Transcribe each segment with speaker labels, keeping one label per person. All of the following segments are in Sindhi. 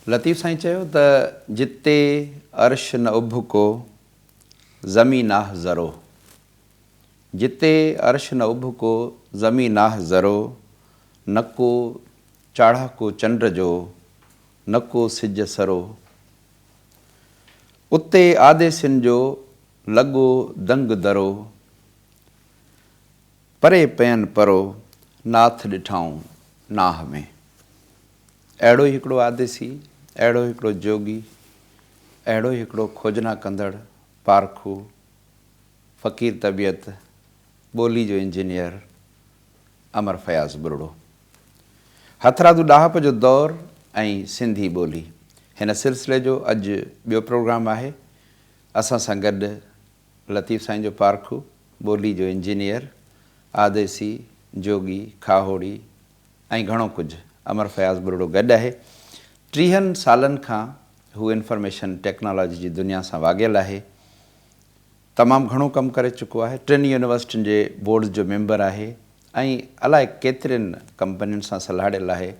Speaker 1: لطيف سائين چيو ته جتي عرش نه اڀڪو، زمين ناهه ذرو. جتي عرش نه اڀڪو، زمين ناهه ذرو، نه ڪو چاڙهاڪو چنڊ جو، نه ڪو سج سرو. اتي آديسين جو، لڳو دنگ درو. پري پئن پرو، ناٿ ڏٺائون ناهه ۾. اهڙو ئي هڪڙو آديسي، اهڙو ئي هڪڙو جوڳي، اهڙو ئي هڪڙو کوجنا ڪندڙ، پارکو، فقير طبيعت، ٻولي جو انجنيئر امر فياض ٻرڙو. هٿرادو ڏاهپ جو دور ۽ سنڌي ٻولي، هن سلسلي جو اڄ ٻيو پروگرام آهي. اسان سان گڏ لطيف سائين جو پارکو، ٻولي جو انجنيئر، آديسي، جوڳي، کاهوڙي، ۽ گهڻو ڪجهه امر فياض ٻرڙو گڏ آهي. ٽيهن سالن کان هو انفارميشن ٽيڪنالاجي جي دنيا سان واڳيل آهي. تمام گهڻو ڪم ڪري چڪو آهي. ٽن يونيورسٽين جي بورڊز جو ميمبر آهي ۽ الائي ڪيترين ڪمپنين سان سلهاڙيل آهي.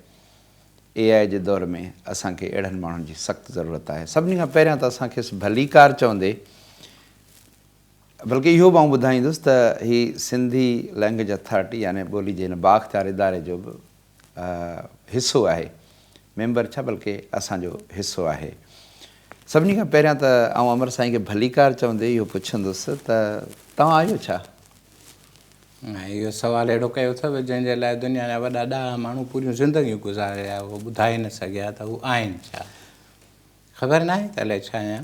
Speaker 1: اي آء جي دور ۾ اسان کي اهڙن ماڻهن جي سخت ضرورت آهي. سڀني کان پهريان ته اسان کيس ڀليڪار چوندي، بلڪ اهو به آئون ٻڌائيندس ته هي سنڌي لئنگئيج اٿارٽي يعني ٻولي جي هن بااختيار اداري جو به حصو آهي، ميمبر ڇا بلڪ اسان جو حصو آهي. سڀني کان پهريان ته آئون امر سائين کي ڀليڪار چوندي اهو پڇندس ته توهان آهيو ڇا؟
Speaker 2: اهو سوال اهڙو ڪيو اٿئو جنهن جي لاء دنيا جا وڏا ڏاها ماڻهو پوريون زندگيون گذاري ويا اهو ٻڌائي نه سگهيا ته هو آهن ڇا؟ خبر ناهي ته الائي ڇا آهيان.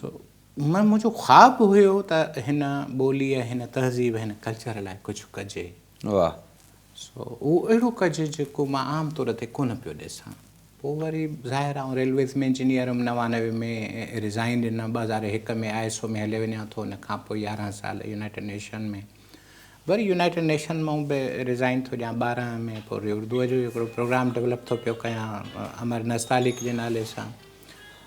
Speaker 2: سو منهنجو خواب هيو ته هن ٻوليء هن تهذيب هن ڪلچر لاء ڪجهه ڪجي واهه
Speaker 1: سو اهو
Speaker 2: اهڙو ڪجي جيڪو مان عام طور تي ڪونه پيو ڏسان پوء وري ظاهر آئون ريلويز ۾ انجنيئر هيم نوانوي ۾ ريزائين ڏنم ٻه هزار هڪ ۾ آء ايس او ۾ هليو وڃان ٿو ان کان پوء يارهن سال يونائيٽيڊ نيشن ۾ وري يونائيٽيڊ نيشن مئون به ريزائين ٿو ڏيان ٻارهن ۾ پوء وري اردوء جو هڪڙو پروگرام ڊولپ ٿو پيو ڪيان امر نستعليق جي نالي سان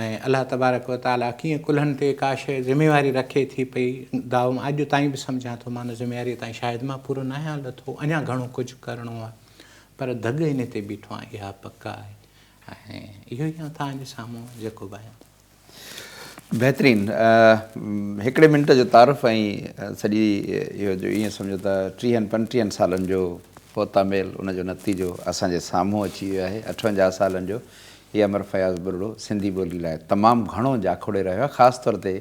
Speaker 2: ۽ الله تبارڪ و تعاليٰ ڪيئن ڪلهن تي ڪا شيء ذميواري رکي ٿي پئي دائو مان اڄ تائين به سمجهان ٿو مان ان ذميواريء تائين شايد مان پورو ناهيان لٿو اڃا گهڻو ڪجهه ڪرڻو آهي پر دڳ ان تي بيٺو آهيان اها پڪ آهي ۽ اهو ئي آهيان توهان جي سامهون جيڪو به آهيان. بهترين
Speaker 1: هڪڙي منٽ جو تعارف ۽ سڄي اهو جو ائين سمجهو ته ٽيهن پنٽيهن سالن جو پوتا ميل ان جو نتيجو اسان جي سامهون اچي ويو آهي اٺونجاهه سالن جو هي امر فياض ٻرڙو سنڌي ٻولي لاء تمام گهڻو جاکوڙي رهيو آهي، خاص طور تي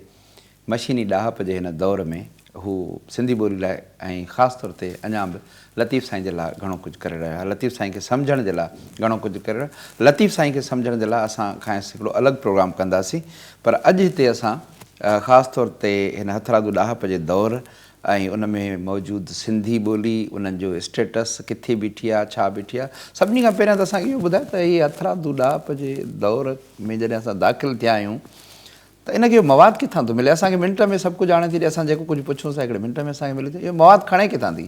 Speaker 1: مشيني ڏاهپ جي هن دور ۾ هو سنڌي ٻولي لاء ۽ خاص طور تي اڃا به لطيف سائين جي لاء گهڻو ڪجهه ڪري رهيو آهي، لطيف سائين کي سمجهڻ جي لاء گهڻو ڪجهه ڪري رهيو آهي، لطيف سائين کي سمجهڻ جي لاء اسان کانئس هڪڙو الڳ پروگرام ڪنداسين پر اڄ هتي اسان خاص طور تي هن هٿرادو ڏاهپ جي دور ۽ ان ۾ موجود سنڌي ٻولي انهن جو اسٽيٽس ڪٿي بيٺي آهي ڇا بيٺي آهي سڀني کان پهريان ته اسان کي اهو ٻڌايو ته هي هٿرادو ڏاهپ جي دور ۾ جڏهن اسان داخل ٿيا آهيون ته ان کي اهو مواد ڪٿان ٿو ملي اسان کي منٽ ۾ سڀ ڪجهه آڻي ٿي ڏي اسان جيڪو ڪجهه پڇون ٿا هڪڙي منٽ ۾ اسان کي ملي ٿو اهو مواد کڻي ڪٿان ٿي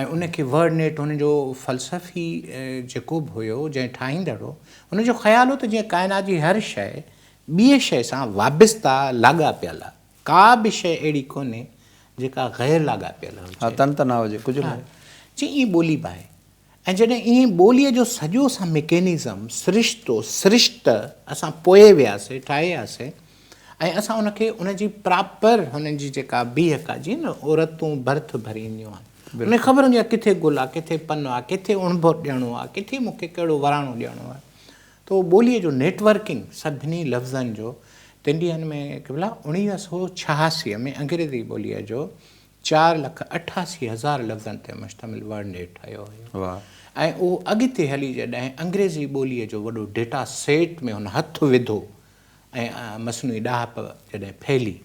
Speaker 2: ۽ ان کي ورڊ نيٽ هن جو فلسفي جيڪو به هيو جنهن ٺاهيندڙ هو ان جو خيال هو ته جيئن ڪائنات جي هر شيء ٻيء شيء سان وابسته لاڳاپيل آهي ڪا به شيء اهڙي ڪونهي جيڪا غير لاڳاپيل هجي. ها تن ته نه هجي ڪجهه
Speaker 1: به. جي ائين ٻولي
Speaker 2: به آهي ۽ جڏهن ائين ٻوليء جو سڄو سان ميڪينزم، سرشتو، سرشته، اسان پوء وياسي، ٺاهياسي ۽ اسان ان کي ان جي پراپر هن جي جيڪا بيهڪ آهي، جيئن نه عورتون برٿ ڀري اينديون آهن، ان کي خبر هوندي آهي ڪٿي گل آهي، ڪٿي پن آهي، ڪٿي اڻڀر ڏيڻو آهي، ڪٿي مون کي ڪهڙو وراڻو ڏيڻو آهي. ته اهو ٻوليء جو نيٽ ورڪنگ سڀني لفظن جو تن ڏينهن ۾ قبلا اڻويهه سؤ ڇهاسي ۾ انگريزي ٻوليء جو چار لک اٺاسي هزار لفظن تي مشتمل ورڊنيٽ ٺهيو هيو ۽ اهو اڳتي هلي جڏهن انگريزي ٻوليء جو وڏو ڊيٽا سيٽ ۾ هن هٿ وڌو ۽ مصنوعي ڏاهپ جڏهن ڦهلي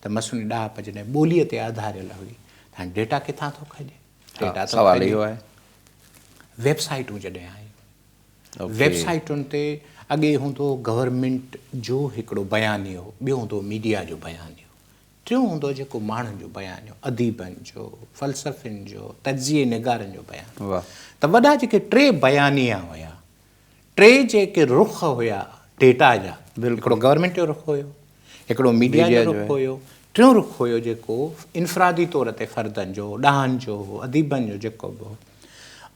Speaker 2: ته مصنوعي ڏاهپ جڏهن ٻوليء تي آڌاريل هئي ته هاڻي ڊيٽا ڪٿان ٿو کڄي؟ ڊيٽا ٿو کڄي.
Speaker 1: ويب
Speaker 2: سائيٽون جڏهن آيون، ويب سائيٽن تي اڳي هوندو هو گورنمينٽ جو هڪڙو بيانيو، ٻيو هوندو هو ميڊيا جو بيانيو. ٽيون هوندو جيڪو ماڻهن جو بيانيو، اديبن جو، فلسفين جو، تجزيي نگارن جو بيانيو. واهه. ته وڏا جيڪي ٽي بيانيا هيا، ٽي جيڪي رخ هيا ڊيٽا جا، هڪڙو گورنمينٽ جو رخ هيو، هڪڙو ميڊيا جو رخ هيو، ٽيون رخ هيو جيڪو انفرادي طور تي فردن جو، ڏاهن جو، اديبن جو جيڪو به هو.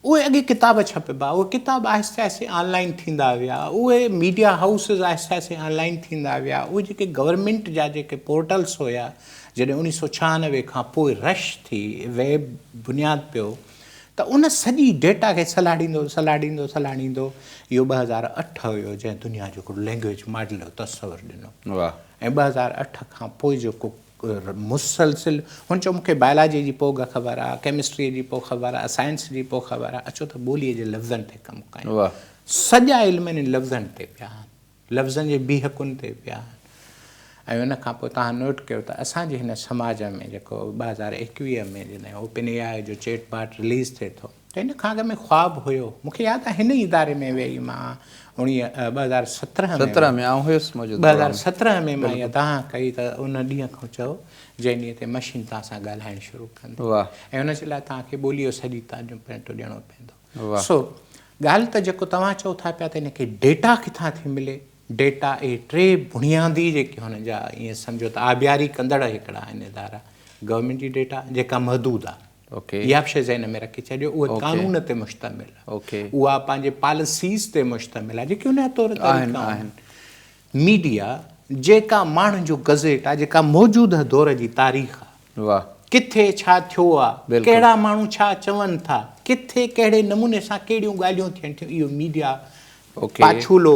Speaker 2: اهي اڳي ڪتاب ڇپبا، اهي ڪتاب آهستي آهستي آن لائين ٿيندا ويا، اهي ميڊيا هائوسز آهستي آهستي آن لائين ٿيندا ويا، اهي جيڪي گورنمينٽ جا جيڪي پورٽلز هيا، جڏهن اڻيهه سؤ ڇهانوي کان پوء رش ٿي، ويب بنياد پيو ته ان سڄي ڊيٽا کي سلهاڙيندو سلهاڙيندو سلهاڙيندو اهو ٻه هزار اٺ هيو جنهن دنيا جو هڪڙو لينگويج ماڊل جو تصور ڏنو ۽ ٻه هزار اٺ کان پوء جيڪو مسلسل هن چيو مون کي بائلاجي جي پوء خبر آ، ڪيمسٽري جي پوء خبر آ، سائنس جي پوء خبر آ، اچو ته ٻوليء جي لفظن تي ڪم ڪيون. سڄا علم انهن لفظن تي پيا آهن. لفظن جي بيهڪن تي پيا آهن. ۽ ان کان پوء توهان نوٽ ڪيو ته اسان جي هن سماج ۾ جيڪو ٻه هزار ايڪويهه ۾ جڏهن اوپن اي آء جو چيٽ باٽ رليز ٿئي ٿو، هن کان اڳ ۾ خواب هيو. مون کي ياد آهي هن ئي اداري ۾ ويئي مان اوڻيهه ٻه هزار سترهن ۾ سترهن ۾ آئون هيس موجود ٻه هزار
Speaker 1: سترهن ۾ مان
Speaker 2: اها دانهن ڪئي ته ان ڏينهن کان چئو جنهن ڏينهن تي مشين توهان سان ڳالهائڻ شروع ڪندي واهه ۽ ان جي لاء توهان کي ٻولي جو سڄي تعليم پينٽو ڏيڻو پيندو واهه سو ڳالهه ته جيڪو توهان چئو ٿا پيا ته ان کي ڊيٽا ڪٿان ٿي ملي ڊيٽا اهي ٽي بنيادي جيڪي هن جا ائين سمجهو ته آبياري ڪندڙ هڪڙا آهن ادارا گورنمينٽ جي ڊيٽا جيڪا محدود آهي اها به شيء ذهن ۾ رکي ڇڏيو اهي قانون تي مشتمل آهي اها پنهنجي پاليسيز تي مشتمل آهي جيڪي ان جا طور طريقا آهن ميڊيا جيڪا ماڻهن جو گزيٽ آهي جيڪا موجوده دور جي تاريخ آهي ڪٿي ڇا ٿيو آهي ڪهڙا ماڻهو ڇا چون ٿا ڪٿي ڪهڙي نموني سان ڪهڙيون ڳالهيون ٿين ٿيون اهو ميڊيا پاڇولو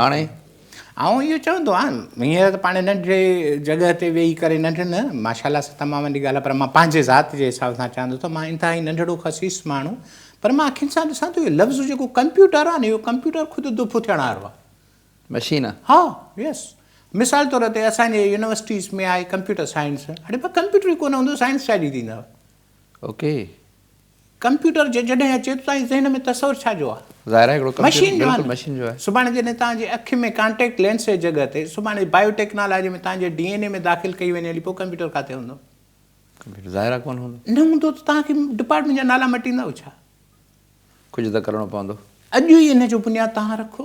Speaker 2: هاڻي
Speaker 1: آئون اهو
Speaker 2: چوندو آهيان هينئر ته پاڻ ننڍڙي جڳهه تي ويهي ڪري ننڍ نه ماشاء الله سان تمام وڏي ڳالهه آهي پر مان پنهنجي ذات جي حساب سان چوان ٿو ته مان انتهائي ننڍڙو خسيس ماڻهو پر مان اکين سان ڏسان ٿو اهو لفظ جيڪو ڪمپيوٽر آهي نه اهو ڪمپيوٽر خود دڦ ٿيڻ وارو آهي مشين آهي ها يس مثال طور تي اسان جي يونيورسٽيز ۾ آهي ڪمپيوٽر سائنس اڙي ڪمپيوٽر ئي ڪونه هوندو سائنس ڇا جي ٿيندو اوڪي ڪمپيوٽر جو جڏهن اچي ته توهان جي ذهن ۾ تصور ڇا جو آ؟ ظاهر آهي هڪڙو ڪمپيوٽر بلڪل مشين جو آهي. سڀاڻي جڏهن توهان جي اک ۾ ڪانٽيڪٽ لينس جي جڳهه تي سڀاڻي بايو ٽيڪنالاجي ۾ توهان جي ڊي اين اي ۾ داخل ڪئي وڃي هلي پوء ڪمپيوٽر ڪاٿي هوندو؟ ڪمپيوٽر ظاهر آهي ڪونه هوندو. نه هوندو ته توهان کي ڊپارٽمينٽ جا نالا مٽيندؤ ڇا؟ ڪجهه ته ڪرڻو پوندو. اڄ ئي ان جو بنياد توهان رکو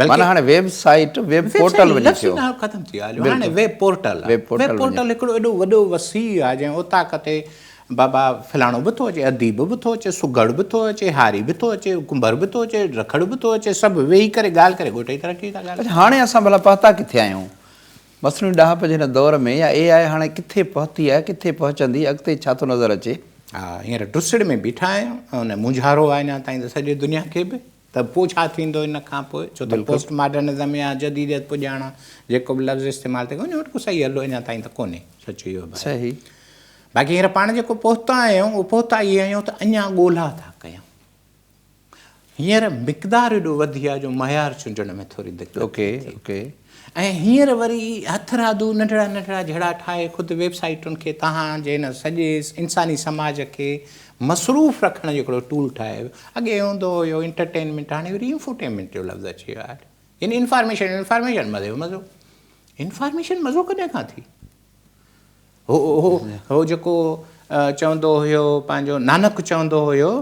Speaker 1: بلڪه هاڻي ويب سائيٽ ويب پورٽل وڃي ٿيو لفظ ئي نه ختم ٿي ويا هليو هاڻي
Speaker 2: ويب پورٽل آهي ويب پورٽل هڪڙو ايڏو وڏو وسيع آهي جنهن اوطاق تي بابا فلاڻو به ٿو اچي اديب به ٿو اچي سگهڙ به ٿو اچي هاري به ٿو اچي ڪنڀر به ٿو اچي رکڙ به ٿو اچي سڀ ويهي ڪري ڳالهه ڪري ڳوٺ جي ترقي ٿا ڳالهائين اڇا هاڻي اسان ڀلا پهتا
Speaker 1: ڪٿي آهيون مصنوعي ڏاهپ جي هن دور ۾ يا اي آء هاڻي ڪٿي پهتي آهي ڪٿي پهچندي اڳتي ڇا ٿو نظر اچي. ها هينئر ٽسڙ
Speaker 2: ۾ بيٺا آهيون ۽ ان مونجهارو آهي اڃا تائين ته سڄي دنيا کي به ته پوء ڇا ٿيندو ان کان پوء؟ ڇو ته پوسٽ ماڊرنزم يا جديديت پڄاڻا جيڪو به لفظ استعمال ٿئي ان وٽ ڪو صحيح حل اڃا تائين ته ڪونهي. سچ اهو به آهي.
Speaker 1: باقي هينئر
Speaker 2: پاڻ جيڪو پهتا آهيون اهو پهتا اهي آهيون ته اڃا ڳولها ٿا ڪيون. هينئر مقدار ايڏو وڌي آهي جو معيار چونڊڻ ۾ ٿوري دقت ٿي.
Speaker 1: ۽ هينئر
Speaker 2: وري هٿرادو ننڍڙا ننڍڙا جهيڙا ٺاهي خود ويب سائيٽن کي تهان جي هن سڄي انساني سماج کي مصروف رکڻ جو هڪڙو ٽول ٺاهي ويو. اڳي هوندو هيو انٽرٽينمينٽ هاڻي وري انفوٽينمينٽ جو لفظ اچي ويو آهي. يعني انفارميشن انفارميشن مزي جو مزو. انفارميشن مزو ڪڏهن کان ٿي؟ هو هو هو جيڪو چوندو هيو پنهنجو نانڪ چوندو هيو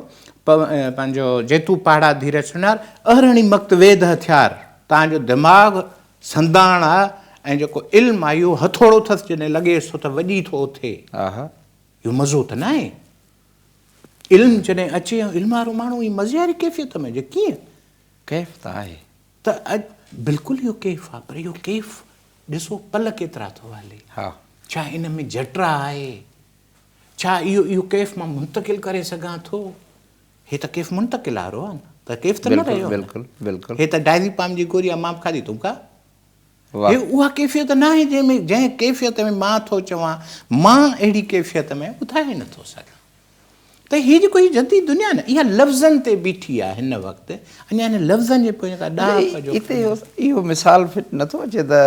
Speaker 2: پنهنجو جيتو پاڙا ڌير سنار اهرڻي مقت ويد هٿيار تان جو دماغ سنداڻ آ ۽ جيڪو علم آ اهو هٿوڙو ٿس جڏهن لڳيس ٿو ته وڄي ٿو اٿي آها اهو مزو ته ناهي علم جڏهن اچي علم وارو ماڻهو هي مزي واري ڪيفيت ۾ هجي ڪيئن ڪيف ته
Speaker 1: آهي ته اڄ
Speaker 2: بلڪل اهو ڪيف آهي پر اهو ڪيف ڏسو پل ڪيترا ٿو هلي. ڇا ان
Speaker 1: ۾ جٽرا
Speaker 2: آهي؟ ڇا اهو اهو ڪيف مان منتقل ڪري سگهان ٿو؟ هي ته ڪيف منتقل آهي روحان. ته ڪيف ته نه رهيو نه. هي ته
Speaker 1: ڊائزيپام جي
Speaker 2: گوري آهي مان به کاڌي ٿو مون کان. هي اها ڪيفيت ناهي جنهن ۾ جنهن ڪيفيت ۾ مان ٿو چوان مان اهڙي ڪيفيت ۾ ٻڌائي نه ٿو سگهان ته هي جيڪو هي جديد دنيا نه اها لفظن تي بيٺي آهي هن وقت اڃا هن لفظن جي پويان ڪا ڏاهپ جو هتي
Speaker 1: اهو مثال فٽ نه ٿو اچي ته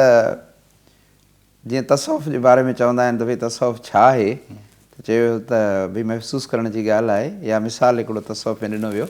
Speaker 1: جيئن تصوف جي باري ۾ چوندا آهن ته ڀئي تصوف ڇا آهي ته چيو ويو ته ڀئي محسوس ڪرڻ جي ڳالهه آهي يا مثال هڪڙو تصوف ۾ ڏنو ويو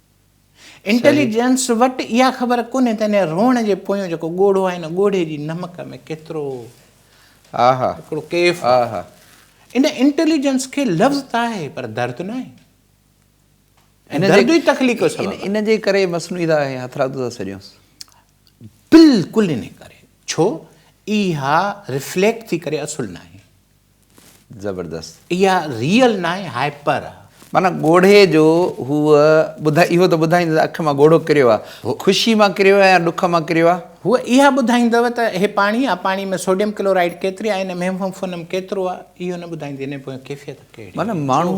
Speaker 2: انٽيليجنس وٽ اها خبر ڪونهي ته ان روئڻ جي پويون جيڪو ڳوڙهو آهي ان ڳوڙهي جي نمڪ ۾ ڪيترو هڪڙو ڪيف آهي. ان انٽيليجنس کي لفظ ته آهي پر درد ناهي ۽ درد ئي تخليق
Speaker 1: جو سبب آهي. ان جي ڪري مصنوعي ته آهي هٿرادو ٿا سڏيونس.
Speaker 2: بلڪل ان ڪري ڇو اها رفليڪٽ ٿي ڪري اصل ناهي. زبردست
Speaker 1: اها ريئل
Speaker 2: ناهي هائپر آ. معنيٰ ڳوڙهي
Speaker 1: جو هو ٻڌائي اهو ته ٻڌائيندو ته اک مان ڳوڙهو ڪريو آ خوشي مان ڪريو آ يا ڏک مان ڪريو آ. هو اها ٻڌائيندو
Speaker 2: ته هي پاڻي آ پاڻي ۾ سوڊيم ڪلورائيڊ ڪيتري آ هن ۾ هيموفونم ڪيترو آ اهو نه ٻڌائيندي هن جي پويان ڪيفيت ڪهڙي آ معنيٰ ماڻهو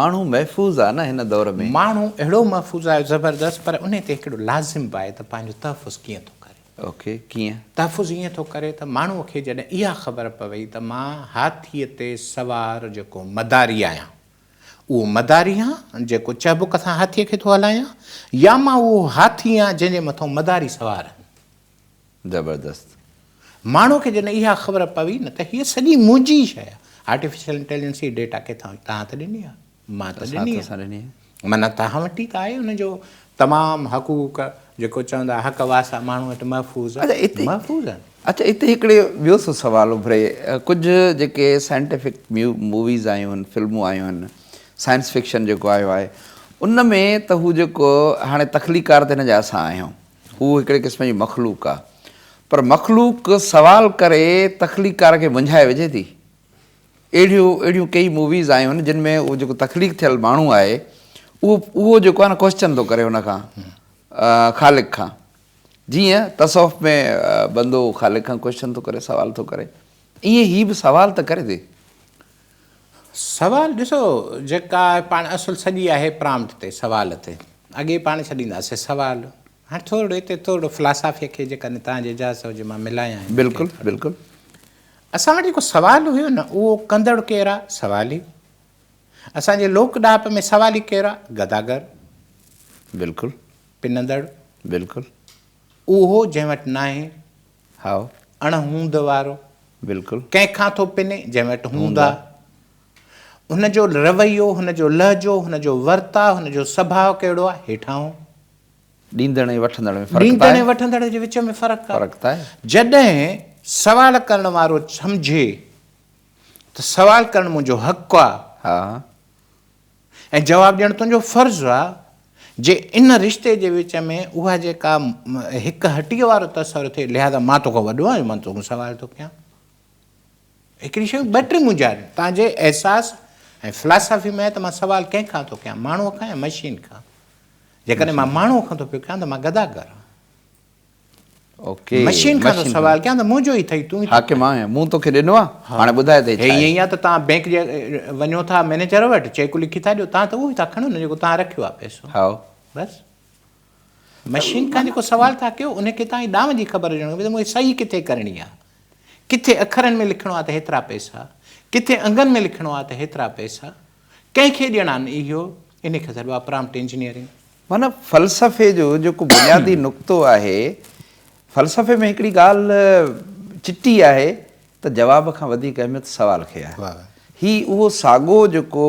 Speaker 1: ماڻهو محفوظ آ نه هن دور ۾. ماڻهو اهڙو محفوظ
Speaker 2: آ زبردست پر انهي تي هڪڙو لازم به آهي ته پنهنجو تحفظ ڪيئن ٿو ڪري. اوڪي ڪيئن؟
Speaker 1: تحفظ ائين ٿو ڪري
Speaker 2: ته ماڻهوء کي جڏهن اها خبر پوي ته مان هاٿيء تي سوار جيڪو مداري آهيان، اهو مداري آن جيڪو چهبڪ سان هاٿيء کي ٿو هلايان يا مان اهو هاٿي آن جنهن جي مٿان مداري سوار آهن. زبردست. ماڻهوء کي جڏهن اها خبر پوي نه ته هيء سڄي منهنجي ئي شيء آهي. آرٽيفيشل انٽيليجنس هي ڊيٽا ڪٿان هئي؟ توهان ته ڏني آهي. مان ته ڏني آهي. معنيٰ توهان وٽ ئي ته آهي ان جو تمام حقوق جيڪو چوندا حق واسا ماڻهو وٽ محفوظ محفوظ آهن. اچا اتي هڪڙي
Speaker 1: ٻيو سو سوال اڀري ڪجهه جيڪي سائنٽيفڪ موويز آيون آهن فلمون آيون آهن سائنس فڪشن جيڪو آيو آهي ان ۾ ته هو جيڪو هاڻي تخليقار ته هن جا اسان آهيون هو هڪڙي قسم جي مخلوق آهي پر مخلوق سوال ڪري تخليقار کي منجهائي وجهي ٿي اهڙيون اهڙيون ڪيئي موويز آيون جن ۾ اهو جيڪو تخليق ٿيل ماڻهو آهي اهو اهو جيڪو آهي نه ڪوشچن ٿو ڪري ان کان خالق کان جيئن تصوف ۾ بندو خالق کان ڪوشچن ٿو ڪري سوال ٿو ڪري ائين هي به سوال ته ڪري ٿي
Speaker 2: سوال ڏسو جيڪا پاڻ اصل سڄي آهي پرامٽ تي سوال تي اڳي پاڻ ڇڏينداسي سوال هاڻ ٿورڙو هتي ٿورڙو فلاسافيء کي جيڪا نه تهان جي اجازت هجي مان ملايان هن کي ٿورڙو. بلڪل بلڪل.
Speaker 1: اسان وٽ
Speaker 2: جيڪو سوال هيو نه اهو ڪندڙ ڪير آ؟ سوالي. اسان جي لوڪ ڏاهپ ۾ سوالي ڪير آ؟ گداگر.
Speaker 1: بلڪل. پنندڙ.
Speaker 2: بلڪل.
Speaker 1: اهو
Speaker 2: جنهن وٽ ناهي. هائو.
Speaker 1: اڻ هوند
Speaker 2: وارو. بلڪل. ڪنهن
Speaker 1: کان ٿو پني؟
Speaker 2: جنهن وٽ هوند آ. هن جو رويو، هن جو لهجو، هن جو ورتاء، هن جو سڀاء ڪهڙو آ؟ هيٺاهون. ڏيندڙ
Speaker 1: ۽ وٺندڙ ۾ فرق ڏيندڙ ۽ وٺندڙ جي وچ
Speaker 2: ۾ فرق آهي. جڏهن سوال ڪرڻ وارو سمجهي ته سوال ڪرڻ منهنجو حق آ
Speaker 1: ۽
Speaker 2: جواب ڏيڻ تنهنجو فرض آ، جي ان رشتي جي وچ ۾ اها جيڪا هڪ هٽيء وارو تصور ٿئي لهذا مان توکان وڏو آهيان جو مان توکان سوال ٿو ڪيان. هڪڙي شيون ٻه ٽي مونجهاريون تنهنجي احساس ۽ فلاسافي ۾ آهي ته مان سوال ڪنهن کان ٿو ڪيان ماڻهوء کان يا مشين کان جيڪڏهن مان ماڻهوء کان ٿو پيو ڪيان ته مان گداگر آهيان
Speaker 1: مشين کان ٿو
Speaker 2: سوال ڪيان ته منهنجو ئي ٿئي تون حاڪم آهين مون توکي
Speaker 1: ڏنو آهي هاڻي ٻڌاء ته هي ڇا آهي ائين آهي ته تان بينڪ
Speaker 2: جي وڃو ٿا مئنيجر وٽ چيڪ لکي ٿا ڏيو تان ته اهو ئي ٿا کڻو نه جيڪو تان رکيو آهي پئسو هائو بس مشين کان جيڪو سوال ٿا ڪيو ان کي توهان جي ڏانء جي خبر هجڻ کپي ته مونکي صحيح ڪٿي ڪرڻي آ ڪٿي اکرن ۾ لکڻو آ ته هيترا پئسا ڪٿي انگن ۾ لکڻو آ ته هيترا پئسا ڪنهن کي ڏيڻا ان اهو ان کي سڏبو آ پرامٽ انجنيئرنگ. معنيٰ
Speaker 1: فلسفي جو جيڪو بنيادي نقطو آهي فلسفي ۾ هڪڙي ڳالهه چٽي آهي ته جواب کان وڌيڪ اهميت سوال کي آ هي اهو ساڳو جيڪو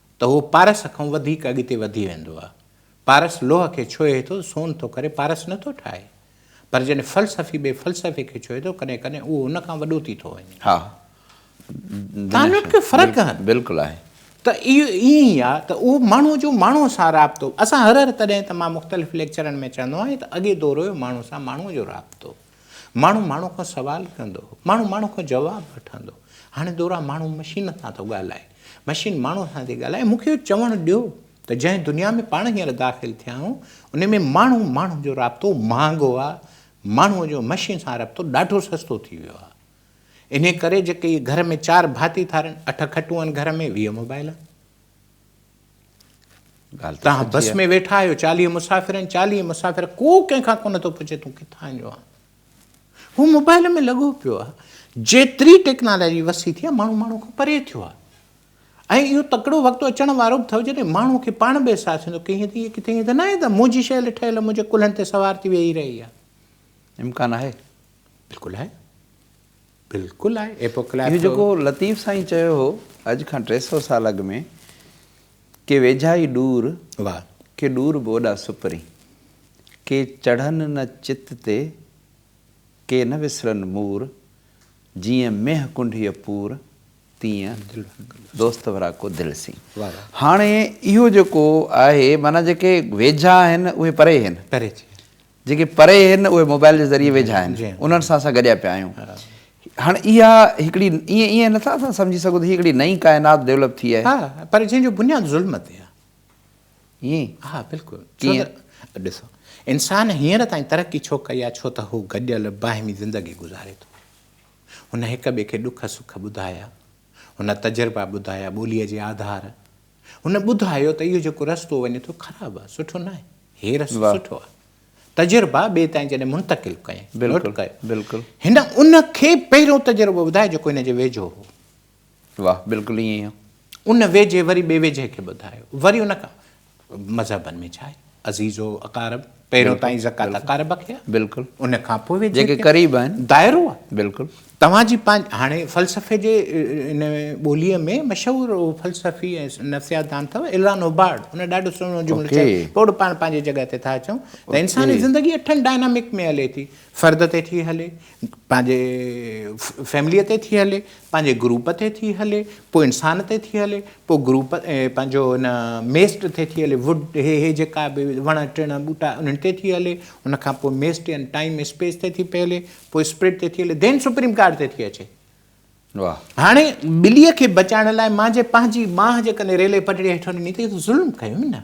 Speaker 2: ته هو پارس کان وڌيڪ اڳتي وڌي ويندو آهي. پارس لوهه کي ڇهي ٿو، سون ٿو ڪري، پارس نه ٿو ٺاهي. پر جڏهن فلسفي ٻئي فلسفي کي ڇهي ٿو، ڪڏهن ڪڏهن اهو ان کان وڏو ٿي ٿو وڃي. ها. تان وٽ ڪي فرق آهن. بلڪل آهي. ته
Speaker 1: اهو
Speaker 2: ائين ئي آهي ته اهو ماڻهو جو ماڻهو سان رابطو، اسان هر هر تڏهن ته مان مختلف ليڪچرن ۾ چوندو آهيان ته اڳي دور هيو ماڻهو سان ماڻهو جو رابطو. ماڻهو ماڻهو کان سوال ڪندو هو، ماڻهو ماڻهو کان جواب وٺندو. هاڻي دوران ماڻهو مشين سان ٿو ڳالهائي، مشين ماڻهو سان ٿي ڳالهائي. مون کي اهو چوڻ ڏيو ته جنهن دنيا ۾ پاڻ هينئر داخل ٿيا آهيون، ان ۾ ماڻهو ماڻهو جو رابطو مهانگو آهي، ماڻهوء جو مشين سان رابطو ڏاڍو سستو ٿي ويو آهي. انهيء ڪري جيڪي اهي گهر ۾ چار ڀاتي ٿارين، اٺ کٽون آهن گهر ۾، ويهه موبائيل آهن. ڳالهه ته سچي بس ۾ ويٺا آهيو چاليهه مسافر آهن چاليهه مسافر ڪو ڪنهن کان ڪونه ٿو پڇي تون ڪٿان جو آهين هو موبائل ۾ لڳو پيو آهي جيتري ٽيڪنالاجي وسي ٿي آهي ماڻهو ماڻهو کان پري ٿيو آهي ۽ اهو تڪڙو وقت اچڻ وارو به اٿو جڏهن ماڻهو کي پاڻ به احساس ٿيندو ڪي هيئن ته هيء ڪٿي هيئن ته نه آهي ته منهنجي شيل ٺهيل منهنجي ڪلهن تي سوار ٿي ويهي رهي آهي امڪان آهي
Speaker 1: بلڪل آهي
Speaker 2: بلڪل آهي ايپوڪليپس اهو جيڪو لطيف
Speaker 1: سائين چيو هو اڄ کان ٽي سئو سال اڳ ۾ ڪي ويجها ئي ڏور واهه ڪي
Speaker 2: ڏور به
Speaker 1: اوڏا سپرين ڪي چڙهن نه چت تي ڪي نه وسرن مور جيئن مينهن ڪنڍيء پور تيئن دوست ورا ڪو دل سين هاڻي اهو جيڪو آهي معنيٰ جيڪي ويجها آهن اهي پري هين پري ٿي ويا
Speaker 2: جيڪي پري
Speaker 1: هن اهي موبائل جي ذريعي ويجها آهن انهن سان اسان گڏيا پيا آهيون هاڻ اها هڪڙي ايئن ايئن نٿا اسان سمجهي سگهون ته هي هڪڙي نئين ڪائنات ڊيولپ ٿي آهي ها پر جنهن جو بنياد
Speaker 2: ظلم تي آهي ائين ها بلڪل
Speaker 1: ڇو
Speaker 2: ته ڏسو انسان هينئر تائين ترقي ڇو ڪئي آهي ڇو ته هو گڏيل باهمي زندگي گذاري ٿو هن هڪ ٻئي کي ڏک سک ٻڌايا هن تجربا ٻڌايا ٻوليء جي آڌار هن ٻڌايو ته اهو جيڪو رستو وڃي ٿو خراب آهي سٺو ناهي هي رستو سٺو آهي تجربا ٻئي تائين جڏهن منتقل ڪيائين نوٽ ڪيو هن ان
Speaker 1: کي
Speaker 2: پهريون تجربو ٻڌايو جيڪو هن جي ويجهو هو واهه بلڪل ائين هو
Speaker 1: ان ويجهي وري
Speaker 2: ٻئي ويجهي کي ٻڌايو وري ان کان مذهبن ۾ ڇا آهي عزيز و اقارب پهريون تائين زڪات اقارب کي
Speaker 1: آ
Speaker 2: بلڪل ان کان
Speaker 1: پوء جيڪي
Speaker 2: قريب آهن دائرو آ بلڪل توهان جي پنهنجي هاڻي فلسفي جي ان ٻوليء ۾ مشهور فلسفي ۽ نفسيات دان اٿو الان هوبارڊ ان ڏاڍو سهڻو جملو چيو پوء به پاڻ پنهنجي جڳهه تي ٿا اچون ته انساني زندگي اٺن ڊائنامڪ ۾ هلي ٿي فرد تي ٿي هلي پنهنجي فيمليء تي ٿي هلي، پنهنجي گروپ تي ٿي هلي، پوء انسان تي ٿي هلي، پوء گروپ پنهنجو ان ميسٽ تي ٿي هلي، ووڊ هي هي جيڪا به وڻ ٽڻ ٻوٽا انهن تي ٿي هلي، ان کان پوء ميسٽ يعنيٰ ٽائيم اسپيس تي ٿي پئي هلي، پوء اسپرٽ تي ٿي هلي، ڌين سپريم ڪارڊ تي ٿي اچي. هاڻي ٻليء کي بچائڻ لاء مان جي پنهنجي ٻانهن جيڪڏهن ريلوي پٽڙيء هيٺ هڻي نيتي، اهو ته ظلم ڪيم نه.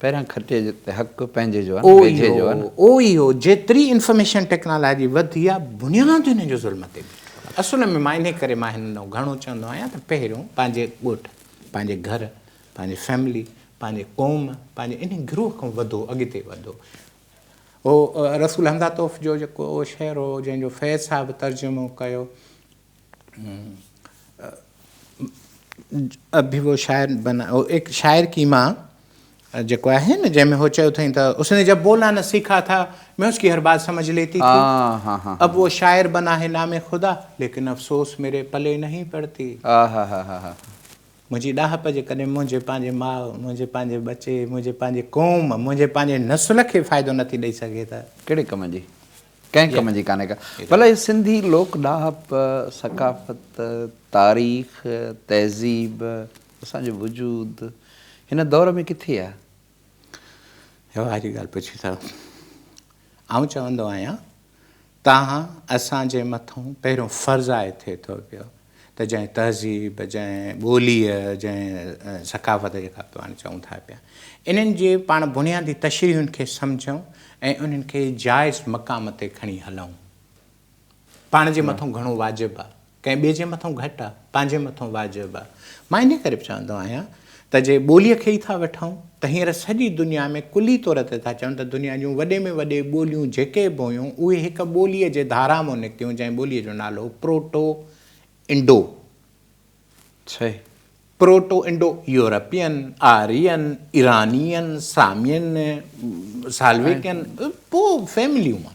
Speaker 2: پهريان
Speaker 1: کٽي جو ته حق پنهنجي جو آهي نه ويجهي جو آهي نه. اهو ئي هو جيتري
Speaker 2: انفارميشن ٽيڪنالاجي وڌي آهي بنياد هن جو ظلم تي بيٺو آهي اصل ۾ مان انهي ڪري مان هن ڏانهن گهڻو چوندو آهيان ته پهريون پنهنجي ڳوٺ پنهنجي گهر پنهنجي فيملي پنهنجي قوم پنهنجي انهي گروه کان وڌو اڳتي وڌو هو رسول حمزه توف جو جيڪو شعر هو جنهن جو فيض صاحب ترجمو ڪيو. ابھي وو شاعر بنا او ايڪ شاعر ڪي مان جيڪو آھي نه جنھن ۾ ھو چيو اٿئين ته اس ني جب بولنا نه سيکا ٿا مين اس ڪي ھر بات سمجھ ليتي ٿي اب وو شاعر بنا ھي نام خدا ليڪن افسوس ميري پلي نھين پڙتي منھنجي ڏاھپ جي ڪڏھن منھنجي پنھنجي ماء منھنجي پنھنجي ٻچي منھنجي پنھنجي قوم منھنجي پنھنجي نسل کي فائدو نٿي ڏئي سگھي ته ڪھڙي ڪم جي.
Speaker 1: ڪنهن ڪم جي ڪانهي ڪا. ڀلا هي سنڌي لوڪ ڏاهپ، ثقافت، تاريخ، تهذيب، اسان جو وجود هن دور ۾ ڪٿي آ؟
Speaker 2: واهه جي ڳالهه پڇي ٿا. آئون چوندو آهيان، تان اسان جي مٿون پهريون فرض آهي ٿئي ٿو پيو. ته جنهن تهذيب، جنهن ٻوليء، جنهن ثقافت جيڪا پاڻ چئون ٿا پيا، انهن جي پاڻ بنيادي تشريحن کي سمجهون ۽ انهن کي جائز مقام تي کڻي هلئون. پاڻ جي مٿون گهڻو واجب آ، ڪنهن ٻئي جي مٿون گهٽ آ، پنهنجي مٿون واجب آ. مان انهيء ڪري به چوندو آهيان ته جي ٻوليء کي ئي ٿا وٺون ته هينئر سڄي دنيا ۾ ڪلي طور تي ٿا چون ته دنيا جون وڏي ۾ وڏي ٻوليون جيڪي به هيون اهي هڪ ٻوليء جي ڌارا مون نڪتيون جنهن ٻوليء جو نالو هو پروٽو انڊو ڇهي proto Indo European, Aryan, Iranian, سامين، سالويڪين، پوء فيمليون مان.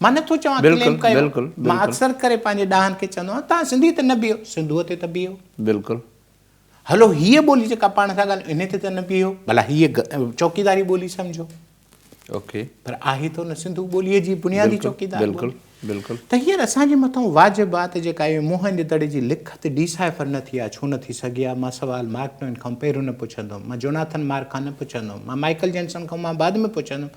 Speaker 2: مان نه ٿو چوان ڪليم ڪيو مان اڪثر ڪري پنهنجي ڏاهن کي چوندو آهيان توهان سنڌي تي نه بيهو سنڌوء تي ته بيهو بلڪل هلو هيء ٻولي جيڪا پاڻ ٿا ڳالهيون انهي تي ته نه بيهو ڀلا هيء چوڪيداري ٻولي سمجهو اوڪي پر آهي ته نه سنڌو ٻولي جي بنيادي چوڪيدار بلڪل بلڪل ته هينئر اسان جي مٿان واجب آهي ته جيڪا اهي موهن جي دڙي جي لکت ڊيسائفر نه ٿي آهي ڇو نه ٿي سگهي آهي مان سوال مارڪ ٽوين کان پهريون نه پڇندم مان جوناٿن مارڪ کان نه پڇندم مان مائيڪل جينسن کان مان بعد ۾ پڇندم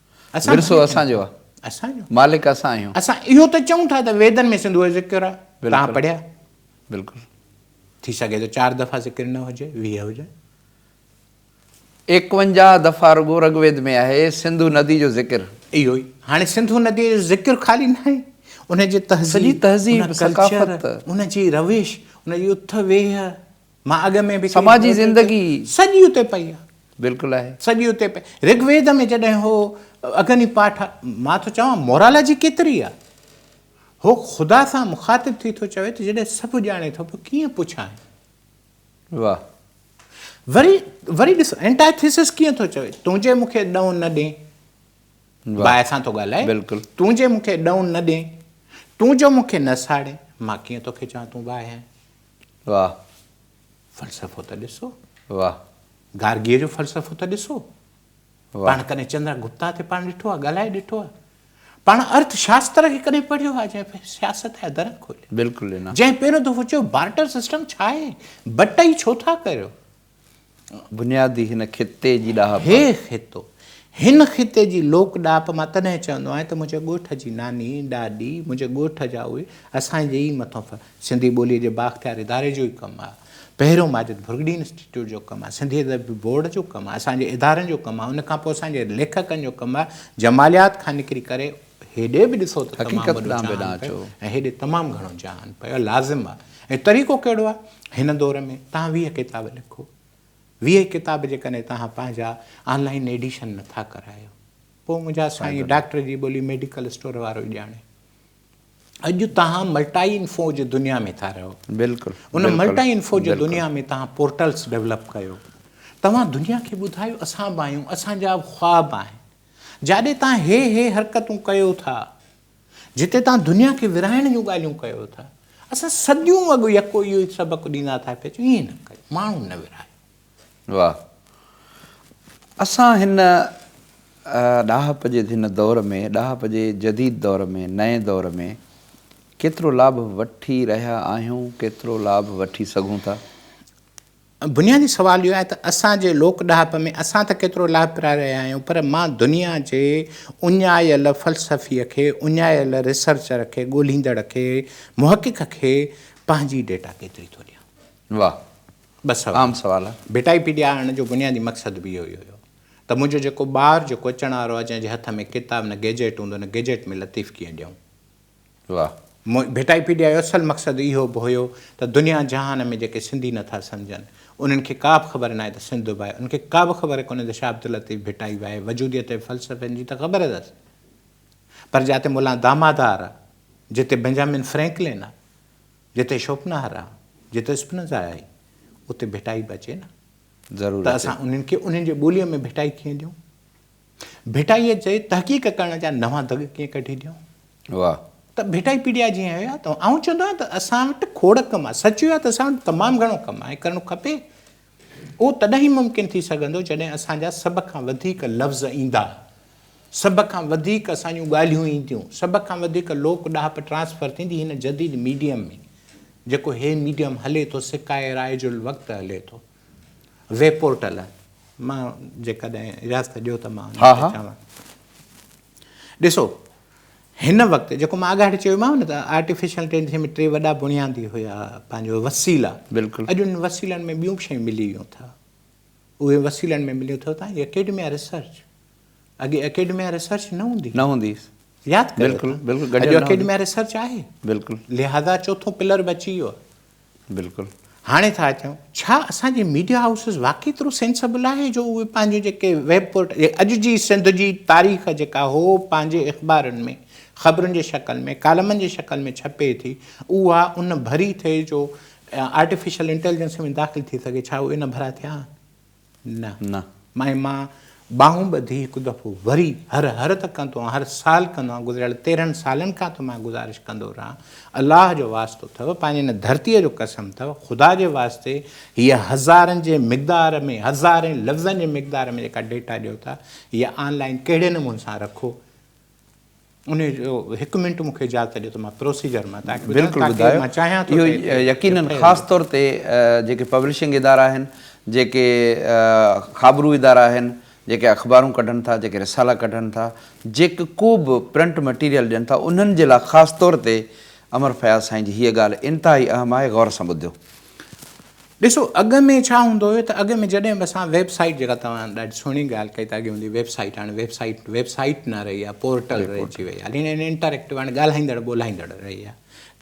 Speaker 2: ورثو اسان جو آ. اسان جو. مالڪ اسان آهيون. اسان اهو ته چئون ٿا ته ويدن ۾ سنڌوء جو ذڪر آ. توهان پڙهيا؟ بلڪل. ٿي سگهي ٿو چار دفعا ذڪر نه هجي، ويهه هجن.
Speaker 1: ايڪونجاهه دفعا رڳو رگ ويد ۾ آهي سنڌو ندي جو ذڪر. اهو ئي. هاڻي سنڌو نديء جو ذڪر خالي ناهي. ان جي تهذيب. سڄي تهذيب، ثقافت. ان جي روش، ان جي اٿ ويهه. مان اڳ ۾ به چئي سماجي چڪو آهيان ته زندگي. سڄي اتي پئي آهي. بلڪل آهي. سڄي اتي پئي. رگ ويد ۾ جڏهن هو اگني پاٺ مان ٿو چوان مورالاجي ڪيتري آهي. هو خدا سان مخاطب ٿي ٿو چوي ته جڏهن سڀ ڄاڻي ٿو پوء ڪيئن پڇانء. واهه. وري وري ڏس انٽائي ٿيسس ڪيئن ٿو چوي تون جي مون کي ڏئون نه ڏين. واهه. باهه سان ٿو ڳالهائي. بلڪل. تون جي مون کي ڏئون نه ڏين. تون جو مون کي نه ساڙين. مان ڪيئن توکي چوان تون باهه آهين. واه فلسفو
Speaker 2: ته ڏسو. واه
Speaker 1: گارگيء جو
Speaker 2: فلسفو ته ڏسو. پاڻ
Speaker 1: ڪڏهن چندرا
Speaker 2: گپتا تي پاڻ ڏٺو آهي، ڳالهائي ڏٺو آهي. پاڻ ارٿ شاستر کي ڪڏهن پڙهيو آهي جنهن پهرين سياست جا در کوليا. بلڪل نه. جنهن پهريون
Speaker 1: دفعو چيو
Speaker 2: بارٽر سسٽم ڇا آهي؟ بٽئي ڇو ٿا ڪريو؟
Speaker 1: بنيادي هن خطي جي ڏاهپ. هي خطو،
Speaker 2: هن خطي جي لوڪ ڏاهپ مان تڏهن چوندو آهيان ته منهنجي ڳوٺ جي ناني، ڏاڏي، منهنجي ڳوٺ جا اهي اسان جي ئي مٿو ڦر سنڌي ٻوليء جي بااختيار اداري جو ئي ڪم آهي. پهريون ماجد ڀرڳڙي انسٽيٽيوٽ جو ڪم آهي، سنڌي ادبي بورڊ جو ڪم آهي، اسان جي ادارن جو ڪم آهي، ان کان پوء اسان جي ليکڪن جو ڪم آهي، جماليات کان نڪري ڪري، هيڏي به ڏسو ته تمام وڏو جهان پيو ۽
Speaker 1: هيڏي تمام گهڻو
Speaker 2: جهان پيو لازم آ ۽ طريقو ڪهڙو آ هن دور ۾ تهان ويهه ڪتاب لکو ويهه ڪتاب جيڪڏهن تهان پنهنجا آن لائين ايڊيشن نه ٿا ڪرايو پوء منهنجا سائين ڊاڪٽر جي ٻولي ميڊيڪل اسٽور وارو ئي ڄاڻي اڄ تهان ملٽائي انفو جي دنيا ۾ ٿا رهو بلڪل ان
Speaker 1: ملٽائي انفو
Speaker 2: جي
Speaker 1: دنيا
Speaker 2: ۾ تهان پورٽلز ڊيولپ ڪيو توهان دنيا کي ٻڌايو اسان به آهيون اسان جا به خواب آهن جاڏي تان هي هي حرڪتون ڪيو ٿا، جتي تان دنيا کي ورهائڻ جون ڳالهيون ڪيو ٿا، اسان صديون اڳ يڪو اهو ئي سبق ڏيندا ٿا پيا اچون، ائين نه ڪيو، ماڻهو نه ورهايو. واهه.
Speaker 1: اسان هن ڏاهپ جي هن دور ۾، ڏاهپ جي جديد دور ۾، نئين دور ۾، ڪيترو لاڀ وٺي رهيا آهيون، ڪيترو لاڀ وٺي سگهون ٿا؟
Speaker 2: بنيادي سوال اهو آهي ته اسان جي لوڪ ڏاهپ ۾ اسان ته ڪيترو لاڀپراء رهيا آهيون پر مان دنيا جي اڃايل فلسفي کي، اڃايل ريسرچر کي، ڳولهيندڙ کي، محقق کي پنهنجي ڊيٽا ڪيتري ٿو ڏيان؟ واهه.
Speaker 1: ٻه سوال. عام
Speaker 2: سوال آهي.
Speaker 1: ڀيٽائي پي ڏيارڻ جو
Speaker 2: بنيادي مقصد به اهو ئي هيو ته منهنجو جيڪو ٻار جيڪو اچڻ وارو آهي جنهن جي هٿ ۾ ڪتاب نه گيجيٽ هوندو نه گيجيٽ ۾ لطيف ڪيئن ڏيون. واه.
Speaker 1: مون ڀٽائيپيڊيا
Speaker 2: جو اصل مقصد اهو به هيو ته دنيا جهان ۾ جيڪي سنڌي نٿا سمجهن انهن کي ڪا به خبر ناهي ته سنڌ به آهي انهن کي ڪا به خبر ڪونهي ته شاهه عبداللطيف ڀٽائي به آهي وجوديت جي فلسفن جي ته خبر اٿس پر جاتي مولان دامادار آ جتي بنجامين فرينڪلين آ جتي شوپنهر آ جتي اسپنزا آهي اتي ڀٽائي به اچي نه ضرور ته اچي اسان
Speaker 1: انهن
Speaker 2: کي انهن جي ٻوليء ۾ ڀٽائي ڪيئن ڏيون. ڀٽائيء جي تحقيق ڪرڻ جا نوان دڳ ڪيئن ڪڍي ڏيون؟ واهه. ته
Speaker 1: ڀٽائي
Speaker 2: پيڊيا جي آهيو يا توهان؟ آئون چوندو آهيان ته اسان وٽ کوڙ ڪم آهي. سچ اهو آهي ته اسان وٽ تمام گهڻو ڪم آهي ۽ ڪرڻو کپي. اهو تڏهن ئي ممڪن ٿي سگهندو جڏهن اسان جا سڀ کان وڌيڪ لفظ ايندا، سڀ کان وڌيڪ اسان جون ڳالهيون اينديون، سڀ کان وڌيڪ لوڪ ڏاهپ ٽرانسفر ٿيندي هن جديد ميڊيم ۾، جيڪو هي ميڊيم هلي ٿو سڪائي رائج الوقت هلي ٿو. ويب پورٽل مان جيڪڏهن اجازت ڏيو ته مان ان تي چوان. ڏسو هن وقت جيڪو مان آڳاڙي چيوماو نه ته آرٽيفيشل انٽيليجنس ۾ ٽي وڏا بنيادي هيا پنهنجو وسيلا بلڪل اڄ ان
Speaker 1: وسيلن ۾
Speaker 2: ٻيون به شيون ملي ويون اٿا اهي وسيلن ۾ مليون اٿو تان اڪيڊميا ريسرچ اڳي اڪيڊميا ريسرچ نه هوندي. نه هوندي هئي. ياد ڪيو بلڪل اتان. بلڪل گڏيل اڄ نه هوندي.
Speaker 1: اڪيڊميا ريسرچ
Speaker 2: آهي. بلڪل. لهذا
Speaker 1: چوٿون
Speaker 2: پلر به اچي ويو آهي. بلڪل. هاڻي
Speaker 1: ٿا اچون.
Speaker 2: ڇا اسان جي ميڊيا هائوسز واقعي ايترو سينسبل آهي جو اهي پنهنجون جيڪي ويب پورٽ اڄ جي سنڌ جي تاريخ جيڪا هو پنهنجي اخبارن ۾ خبرن جي شڪل ۾ ڪالمن جي شڪل ۾ ڇپي ٿي اها ان ڀري ٿئي جو آرٽيفيشل انٽيلجنس ۾ داخل ٿي سگهي ڇا اهي ان ڀرا ٿيا آهن نه. نه. مائي مان ٻانهون ٻڌي هڪ دفعو وري هر هر ته ڪندو آهيان هر سال ڪندو آهيان گذريل تيرهن سالن کان توهان گذارش ڪندو رهان الله جو واسطو اٿئو پنهنجي هن ڌرتي جو قسم اٿئو خدا جي واسطي هيء هزارن جي مقدار ۾ هزارين لفظن جي مقدار ۾ جيڪا ڊيٽا ڏيو ٿا هيء آن لائين ڪهڙي نموني سان رکو ان جو هڪ منٽ مون کي اجازت ڏيو ته مان پروسيجر مان تان کي ٻڌايان بلڪل ٻڌايو تاڪي مان چاهيان
Speaker 1: ٿو اهو ته
Speaker 2: يقينن
Speaker 1: FIR
Speaker 2: خاص
Speaker 1: طور تي جيڪي پبلشنگ ادارا آهن جيڪي خابرو ادارا آهن جيڪي اخبارون ڪڍن ٿا جيڪي رسالا ڪڍن ٿا جيڪ ڪو به پرنٽ مٽيريل ڏين ٿا انهن جي لاء خاص طور تي امر فياض سائين جي هيء ڳالهه انتهائي اهم آهي غور سان ٻڌيو ڏسو
Speaker 2: اڳ ۾ ڇا هوندو هيو ته اڳ ۾ جڏهن اسان ويب سائيٽ جيڪا توهان ڏاڍي سهڻي ڳالهه ڪئي ته اڳ هوندي ويب سائيٽ هاڻي ويب سائيٽ ويب سائيٽ نه رهي آهي پورٽل رهجي وئي آهي هاڻي انٽريڪٽو هاڻي ڳالهائيندڙ ٻولهائيندڙ رهي آهي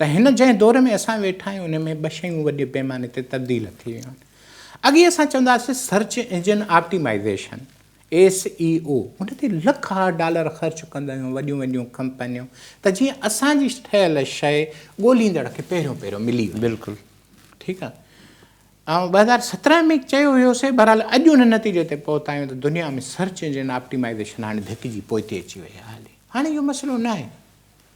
Speaker 2: ته هن جنهن دور ۾ اسان ويٺا آهيون ان ۾ ٻه شيون وڏي پيماني تي تبديل ٿي ويون آهن اڳي اسان چونداسين search engine optimization S E O ان تي لک ها ڊالر خرچ ڪندڙ ۽ وڏيون وڏيون ڪمپنيون ته جيئن اسان جي ٺهيل شيء ڳوليندڙ کي پهريون پهريون ملي وڃي بلڪل ٺيڪ
Speaker 1: آ
Speaker 2: آئون ٻه هزار سترهن ۾ چيو هيو سي بهرحال اڄ ان نتيجي تي پهتا آهيون ته دنيا ۾ سرچ انجن آپٽيمائيزيشن هاڻي ڌڪ جي پوئتي اچي وئي آهي هلي هاڻي اهو مسئلو ناهي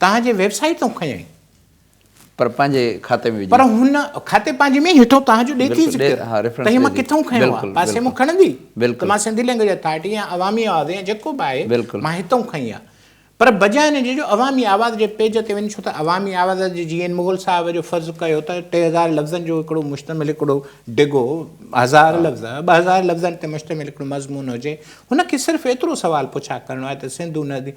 Speaker 2: توهان جي ويب سائيٽ تون کنيائين. پر
Speaker 1: پنهنجي کاتي ۾ وجهي. پر هن کاتي
Speaker 2: پنهنجي ۾ هيٺون توهان جو ڏي ٿي ذڪر ته هي مان
Speaker 1: ڪٿئون
Speaker 2: کنيو
Speaker 1: آهي.
Speaker 2: پاسي مان کڻندي ته
Speaker 1: مان
Speaker 2: سنڌي لينگويج
Speaker 1: اٿارٽي
Speaker 2: يا عوامي آواز يا جيڪو به آهي مان هتئون کنئي آهي. پر بجاء ان جي جو عوامي آواز جي پيج تي وڃ ڇو ته عوامي آواز جي جيئن ان مغل صاحب جو فرض ڪيو ته ٽي هزار لفظن جو هڪڙو مشتمل هڪڙو ڊگهو هزار لفظ ٻه هزار لفظن تي مشتمل هڪڙو مضمون هجي. هن کي صرف ايترو سوال پڇا ڪرڻو آهي ته سنڌو ندي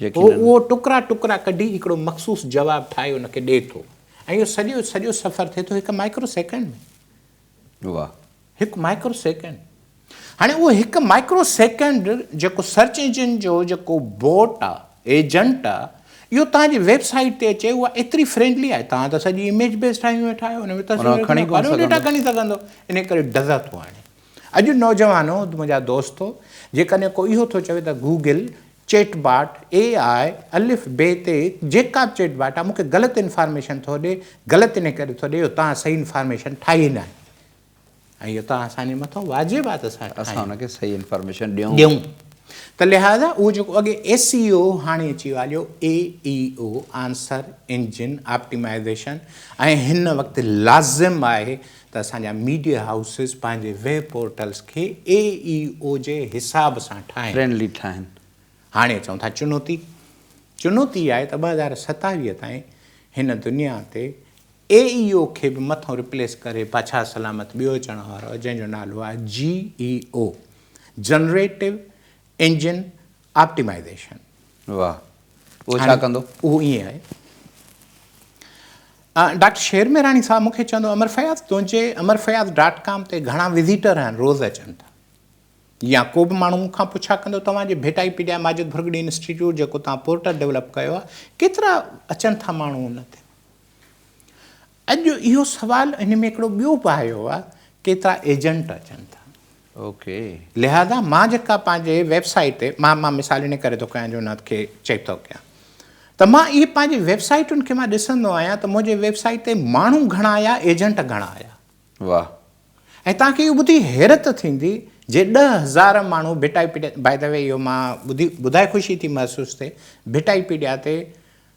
Speaker 2: هو اهو ٽڪرا ٽڪرا ڪڍي هڪڙو مخصوص جواب ٺاهي ان کي ڏئي ٿو ۽ اهو سڄو سڄو سفر ٿئي ٿو هڪ مائڪرو سيڪنڊ ۾. واهه. هڪ
Speaker 1: مائڪرو
Speaker 2: سيڪنڊ. هاڻي اهو هڪ مائڪرو سيڪنڊ جيڪو سرچ انجن جو جيڪو بوٽ آ، ايجنٽ آ، اهو توهان جي ويب سائيٽ تي اچي اها ايتري فرينڊلي آهي توهان ته سڄي اميج بيس ٺاهيون ويٺا آهيو ان ۾ تصوير ڪهڙي ڊيٽا کڻي سگهندو ان ڪري ڊزا ٿو آڻي. اڄ نوجوانو منهنجا دوستو جيڪڏهن ڪو اهو ٿو چوي ته گوگل چيٽ باٽ، اي آء، الف بي تي جيڪا به چيٽ باٽ آهي مونکي غلط انفارميشن ٿو ڏي، غلط انهي ڪري ٿو ڏي جو توهان صحيح انفارميشن ٺاهي ناهي ۽ اهو توهان اسان جي مٿو واجب آهي ته اسان اسان ان کي صحيح
Speaker 1: انفارميشن ڏيون. ڏيون
Speaker 2: ته لهذا اهو جيڪو اڳي ايس اي او هاڻي اچي ويو آهي اهو A E O, answer engine optimisation, ۽ هن وقت لازم آهي ته اسان جا ميڊيا هائوسز پنهنجي ويب پورٽلز کي اي اي او جي حساب سان ٺاهين. فرينڊلي ٺاهين.
Speaker 1: هاڻي اچون ٿا
Speaker 2: چنوتي. چنوتي اها آهي ته ٻه هزار ستاويهه تائين هن دنيا تي اي اي او کي به مٿو ريپليس ڪري بادشاهه سلامت ٻيو اچڻ وارو آهي جنهن جو نالو آهي G E O, generative engine optimisation. واھ
Speaker 1: اهو ڇا ڪندو؟ اهو ائين آهي
Speaker 2: ڊاڪٽر شير ميراڻي صاحب مون کي چوندو امر فياض تنهنجي امر فياض ڊاٽ ڪام تي گهڻا وزيٽر آهن روز اچن ٿا يا ڪو به ماڻهو مون کان پڇا ڪندو توهان جي ڀيٽائي پيڊيا ماجد ڀرڳڙي انسٽيٽيوٽ جيڪو توهان پورٽل ڊيولپ ڪيو آهي ڪيترا اچن ٿا ماڻهو ان تي اڄ اهو سوال ان ۾ هڪڙو ٻيو به آيو آهي ڪيترا ايجنٽ اچن ٿا اوڪي
Speaker 1: لهذا مان
Speaker 2: جيڪا پنهنجي ويب سائيٽ تي مان مان مثال ان ڪري ٿو ڪيان جو ان کي چيڪ ٿو ڪيان ته مان اهي پنهنجي ويب سائيٽن کي مان ڏسندو آهيان ته منهنجي ويب سائيٽ تي ماڻهو گهڻا آيا ايجنٽ گهڻا آيا واه
Speaker 1: ۽ توهان
Speaker 2: کي اهو ٻڌي حيرت ٿيندي جي ڏهه هزار ماڻهو ڀٽائي پيڊيا باء دا وي اهو مان ٻڌي ٻڌائي خوشي ٿي محسوس ٿئي ڀٽائي پيڊيا تي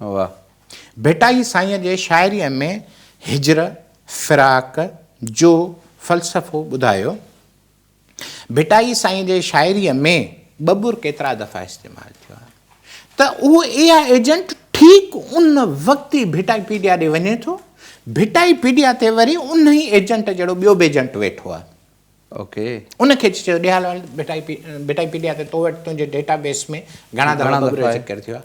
Speaker 2: واه
Speaker 1: ڀٽائي
Speaker 2: سائينء جي شاعريء ۾ هجر، فراق، جو فلسفو ٻڌايو. ڀٽائي سائينء جي شاعريء ۾ ٻٻر ڪيترا دفعا استعمال ٿيو آهي ته اهو اي آء ايجنٽ ٺيڪ ان وقت ئي ڀٽائي پيڊيا ڏي وڃي ٿو، ڀٽائي پيڊيا تي وري انهي ايجنٽ جهڙو ٻيو به ايجنٽ ويٺو آهي. اوڪي.
Speaker 1: ان کي چيو
Speaker 2: ڏي هال ڀٽائي پيڊيا تي تو وٽ تنهنجي ڊيٽا بيس ۾ گهڻا دفعا ٻٻر جو ذڪر ٿيو آهي.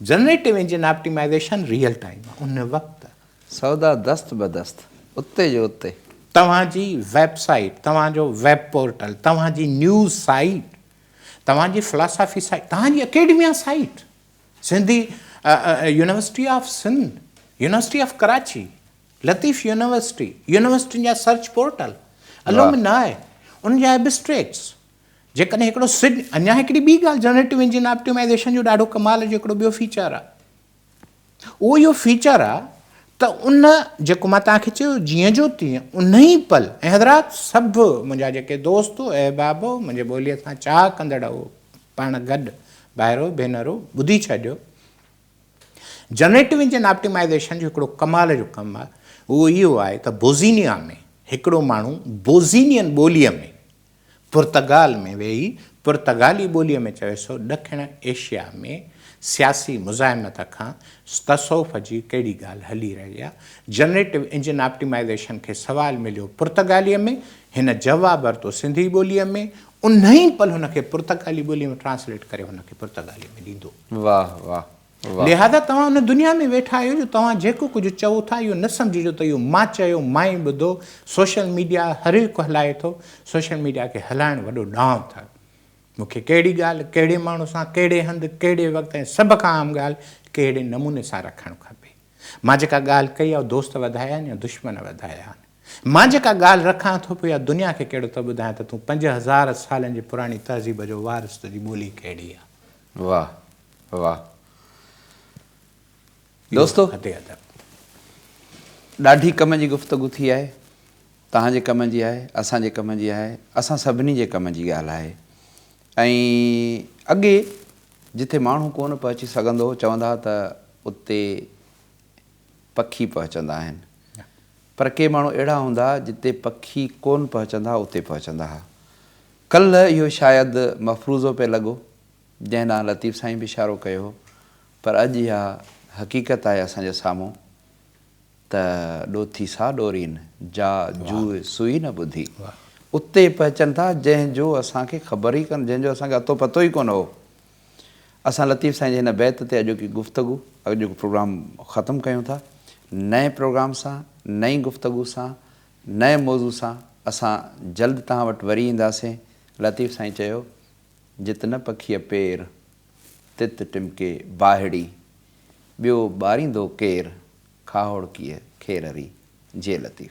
Speaker 2: Generative engine optimization real time ان وقت. سودا دست
Speaker 1: به دست اتي جو اتي. توهان جي
Speaker 2: ويب سائيٽ، توهان جو ويب پورٽل، توهان جي نيوز سائيٽ، توهان جي فلاسافي سائيٽ، توهان جي academia site, Sindhi university of Sindh, university of Karachi, Latif university, يونيورسٽين جا سرچ پورٽل، الومنائي، ان جا ابسٽريڪٽس، جيڪڏهن هڪڙو سج اڃا هڪڙي ٻي ڳالهه جنريٽو انجن آپٽيمائيزيشن جو ڏاڍو ڪمال جو هڪڙو ٻيو فيچر آهي اهو اهو فيچر آهي ته ان جيڪو مان توهان کي چيو جيئن جو تيئن ان ئي پل ۽ حضرات سڀ منهنجا جيڪي دوست احباب منهنجي ٻوليء سان چاهه ڪندڙ پاڻ گڏ ڀائرو ڀينرو ٻڌي ڇڏيو جنريٽو انجن آپٽيمائيزيشن جو هڪڙو ڪمال جو ڪم آهي اهو اهو آهي ته بوزينيا ۾ هڪڙو ماڻهو بوزينين ٻوليء ۾ پرتگال ۾ ويهي پرتگالي ٻوليء ۾ چوي سو ڏکڻ ايشيا ۾ سياسي مزاحمت کان تصوف جي ڪهڙي ڳالهه هلي رهي آ؟ جنريٽو انجن آپٽيمائيزيشن کي سوال مليو پرتگاليء ۾ هن جواب ورتو سنڌي ٻوليء ۾ انهيء پل هن کي پرتگالي ٻوليء ۾ ٽرانسليٽ ڪري هن کي پرتگاليء ۾ ڏيندو. واه واه
Speaker 1: لهذا توهان
Speaker 2: ان دنيا ۾ ويٺا آهيو جو توهان جيڪو ڪجهه چئو ٿا اهو نه سمجهجو ته اهو مان چيو مان ئي ٻڌو، سوشل ميڊيا هرهڪ هلائي ٿو، سوشل ميڊيا کي هلائڻ وڏو ڏانء اٿل. مون کي ڪهڙي ڳالهه، ڪهڙي ماڻهو سان، ڪهڙي هنڌ، ڪهڙي وقت ۽ سڀ کان اهم ڳالهه ڪهڙي نموني سان رکڻ کپي. مان جيڪا ڳالهه ڪئي اها دوست وڌايا آهن يا دشمن وڌايا آهن. مان جيڪا ڳالهه رکان ٿو پيو اها دنيا کي ڪهڙو ته ٻڌايان ته تون پنج هزار سالن جي پراڻي تهذيب جو وارث تنهنجي ٻولي ڪهڙي آهي. واھ واھ
Speaker 1: دوستو ڏاڍي ڪم جي گفتگو ٿي آهي توهان جي ڪم جي آهي اسان جي ڪم جي آهي اسان سڀني جي ڪم جي ڳالهه آهي ۽ اڳي جتي ماڻهو ڪونه پهچي سگهندو هو چوندا هئا ته اتي پکي پهچندا آهن پر ڪي ماڻهو اهڙا هوندا جتي پکي ڪون پهچندا اتي پهچندا هئا ڪلهه اهو شايد مفروضو پئي لڳو، جنهن ڏانهن لطيف سائين به اشارو ڪيو هو، پر اڄ اها حقيقت آهي اسان جي سامهون ته ڏوٿي سا ڏورين، جا جوء سوئي نه ٻڌي. اتي پهچن ٿا، جنهن جو اسان کي خبر ئي ڪونه، جنهن جو اسان کي اتو پتو ئي ڪونه هو. اسان لطيف سائين جي هن بيت تي اڄوڪي گفتگو، اڄوڪو پروگرام ختم ڪيون ٿا. نئين پروگرام سان، نئين گفتگو سان، نئين موضوع سان اسان جلد توهان وٽ وري اينداسين. لطيف سائين چيو، جت نه پکيء پير، تت ٽمڪي باهڙي، ٻيو ٻاريندو ڪير، کاهوڙڪيء کيرري. جي لطيف.